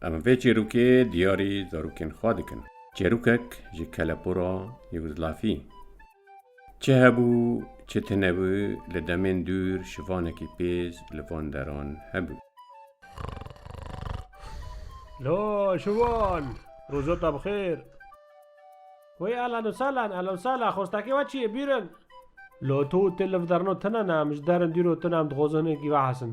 Em vê çêrokê diyarî zarokên xwe dikin. Çêrokek ji kelepora Yûgozlafî. Çi hebû, çi tinebû, li demên dûr şivanekî pêz li van deran hebû. La, şivan! Roja te bi xêr! Wey ehlen û sehlen, ehlen û sehlen, xwestekê we çi ye, bîrin! La to û te li vederna tune ne, em ji derin dûr û tune em dixwazin hinekî vehesin.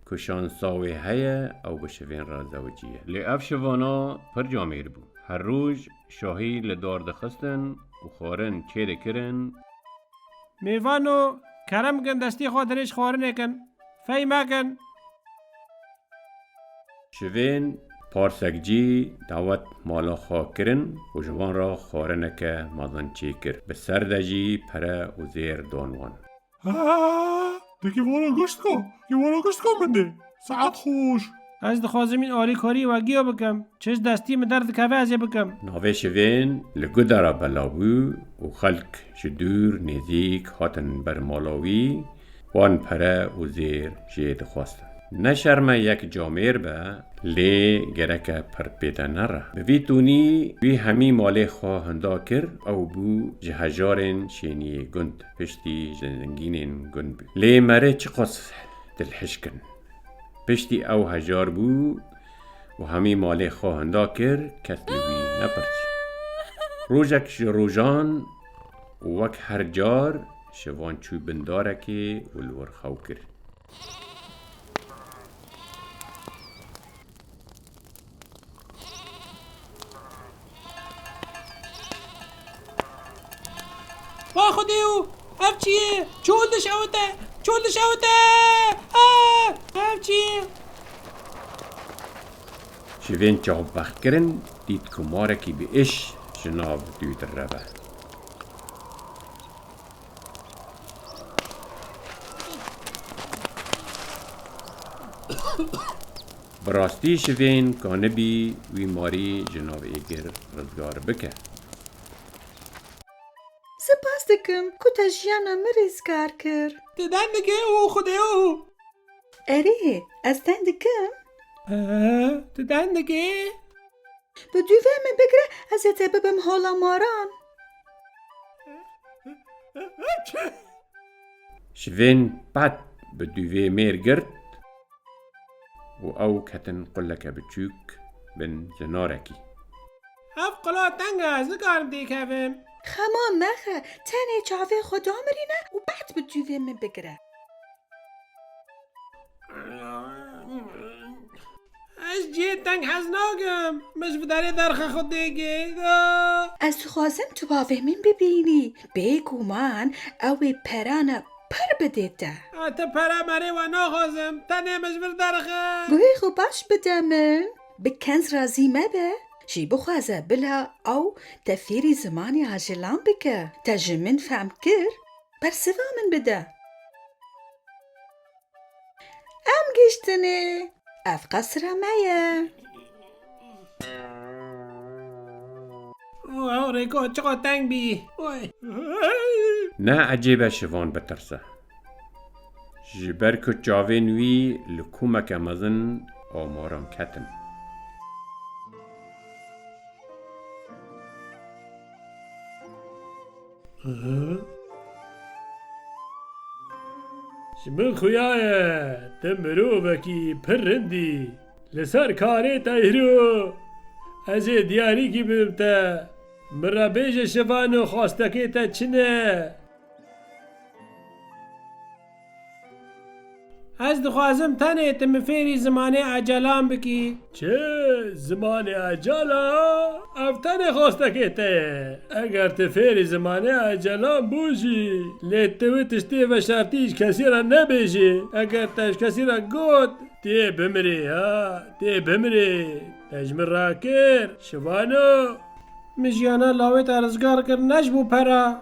Ku şansa wê heye ew bi şivên re zewicî ye. Lê ev şivana pir camêr bû. Her roj şahî li dar dixistin û xwarin çê dikirin. Mêvan û kerem bikin destê xwe dirêj xwarinê kin. Fey mekin. Şivên parsek cî dawet mala xwe kirin û ji wan re xwarineke mezin çê kir. Bi ser de jî pere û zêr dan wan. Te ki vora goşt ko? Ki vora goşt ko min de? Saat xoş. Ez dixwazim în alîkarî we giya bikim. Çiş destî min derdikeve ez ê bikim. Navê şivên li guda re belav bû û xelk ji dûr nêzîk hatin ber mala wî, wan pere û zêr jê dixwestin. Ne şerme yek camêr be, lê gereke pirdpête nere. Bi vî tonî wî hemî malê xwe hinda kir, ew bû ji hejarên şêniyê gund. piştî ji lingînên gund bû. Lê merê çiqas dilhişkin. Piştî ew hejar bû û hemî malê xwe hinda kir kes li wî nepirs. Rojek ji rojan û wek her car ji van çû bin darekê û li wir xew kir. Vay xwedê û ev çi ye? Çol dişewite! Çol dişewite! Ah! Ev çi ye? Ji vên çavbextkirin dît ku marekî bi iş ji nav dû direve. Bi rastî şivên kanibî wî marî ji nav êgir rizgar bike. Sipas dikim ku te jiyana min rêzgar kir. Tu deng dikî û xwe dê û. Erê, ez deng dikim. Tu deng dikî. Bi dûvê min bigre ez ê te bibim hola maran. Şivên pet bi dûvê mêr girt û ew ketin quleke biçûk bin li narekî. Ev qula teng e, ez nikarim tê kevim. Xema mexe, tenê çavê xwe damirîne û pet bi dûvê min bigire. Ez cihê teng hez nakim. Min ji bidarê derxe xwe tê gêg. Ez dixwazim tu bavê min bibînî. Bêguman ew ê perana pir bidê te. Te pere merê we naxwazim. Tenê min ji vir derxe. Guhê xwe baş bide min. Bi kenz razî mebe. Jî bixwaze bila ew te fêrî zimanê ajilan bike. Te ji min fehm kir? Bersiva min bide. Em giştinê, ev qesra me ye. Rêko çiqa teng bî. Ne ecêb e şivan bitirse. Ji ber ku çavên wî li komeke mezin amaran ketin. Ji min xuya ye, tu mirovekî pir rind î. Li ser karê te îro ez ê diyarîkî bibim te. Min re bêje şivano xwastekê te çi ne? Ez dixwazim tenê tu min fêrî zimanê Ecalan bikî. Çi? Zimanê Ecalan? Ev tenê xwestekê te ye. Eger tu fêrî zimanê Ecalan bû jî, lê tu wê tiştê bi veşartî ji kesî re nebêjî. Eger te ji kesî re got, Tu yê bimirî, ha, tu yê bimirî, te ji min rakir, şivano. Min jiyana lawê te rizgar kir ne ji bo pera.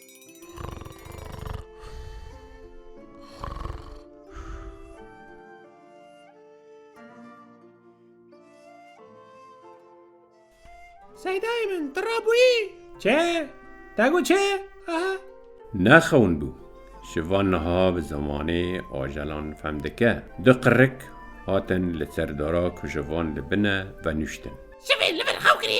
Seydayê min tu rabûyî? Çi? Te got çi? Aha. Nexewin bû. Şiva niha bi zimanê ajelan fem dike. Du qirik hatin li ser dara ku şivan li bin e venûştin. Şivê li vir xew kirî.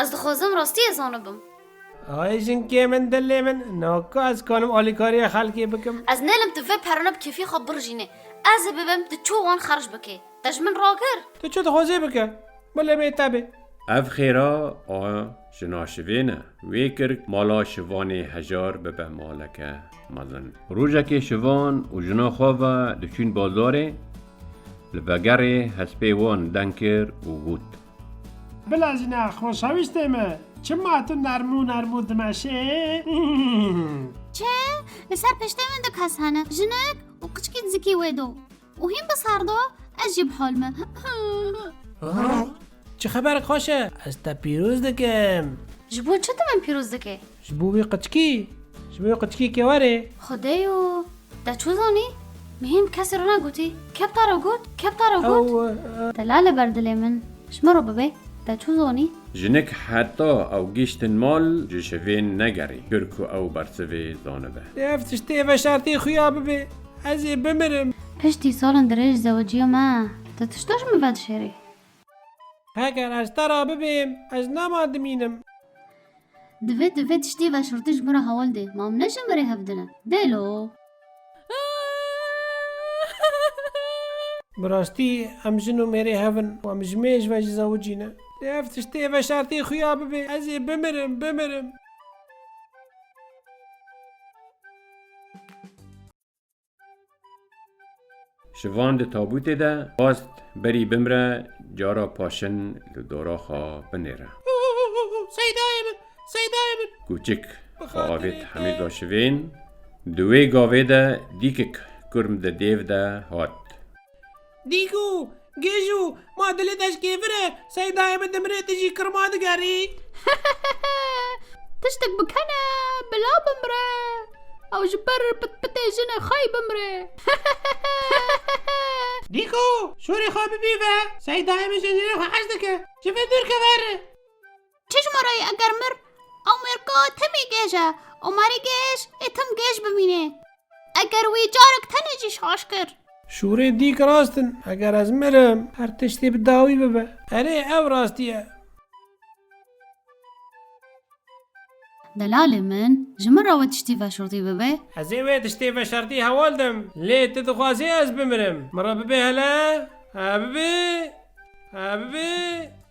Ez dixwazim rastiyê zanibim. Ay jinkê min dilê min na ku ez kanim alîkariya xelkê bikim. Ez nêlim tu vê perona bi kêfî xwe birijînê. Ez ê bibim tu çû wan xerc bikê. Te ji min ragir? Tu çû dixwazê bike. Min lê bê te bê. Ev xêra a jina şivê ne. Wê kir mala şivanê hejar bibe maleke mezin. Rojekê şivan û jina xwe ve diçûn bazarê, li vegerê hespê wan deng kir û got. Bila jina xoşewîstê min, çima tu nermû nermû dimeşê? Çi? Li ser piştê min du kes hene, jinik û qiçikî dizikî wê do û hîn bi ser do, ez jî bi hol me. Çi xeber xweş e? Ez te pîroz dikim. Ji bo çi tu min pîroz dikî? Ji bo wê qıçkî, ji bo wê qıçkî ke werê. Xwedê û te çû zanî? Mihîm kesî ro negotî. Kepta ro got, kepta ro got. Ew. Te la li ber dilê min. Ji min ro bibe. Te çû zanî? Jinik heta ew gîştin mal ji şivên negerî kir ku ew bersivê zanibe. Lê ev tiştê veşartê xuya bibe. Ez ê bimirim. Piştî salên dirêj zewiciya me, tu tişta ji min vedişêrî. Heger ez te re bibêm, ez nema dimînim. Divê tu vê tiştî veşirtij min re hewl dê. Ma em ne ji min re hev din e. Dêlo! Bi rastî em jin û mêrê hev in û em ji mêj ve jî zewicî ne. Lê ev tiştê veşartê xuya bibê, ez ê bimirim, bimirim. Ji van di tabûtê de xwest berî bimre cara paşin li dora xwe binêre. Seydayê min, Seydayê min. Kûçik xwe avêt hemî da şivên. Di wê gavê de dîkik kurm di dêv de hat. Dîku, Gêju, ma dilê te ji kêfir e, Seydayê min dimire tu jî kirma digerî. Tiştek bikene bila bimire. Ew ji ber pitpitê jinê xwe yî bimire. Dîku, Şûrê xwe bibîve, Seydayê min ji jinê xwe hez dike. Ji min dûr keve erê. Çi ji me re ye eger mir Amerîka timî gêj e û marî gêj ê tim gêj bimînê. Eger wî carek tenê jî şaş kir. Şûrê dîk rast in. Eger ez mirim her tiştê bi dawî bibe. Erê ew rastî ye. Delalê min, ji min re wê tiştî veşartî bibe? Ez ê wê tiştê veşartî heval dim. Lê tu dixwazî ez bimirim. Min re bibê hele? He bibê? He bibê?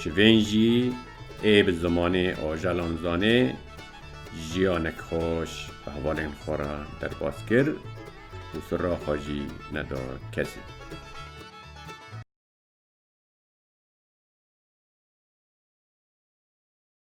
Çivên jî ê bi zimanê ajalan zanê jiyanek xweş bi hevalên xwe re derbas kir û sirra xwe jî neda kesê.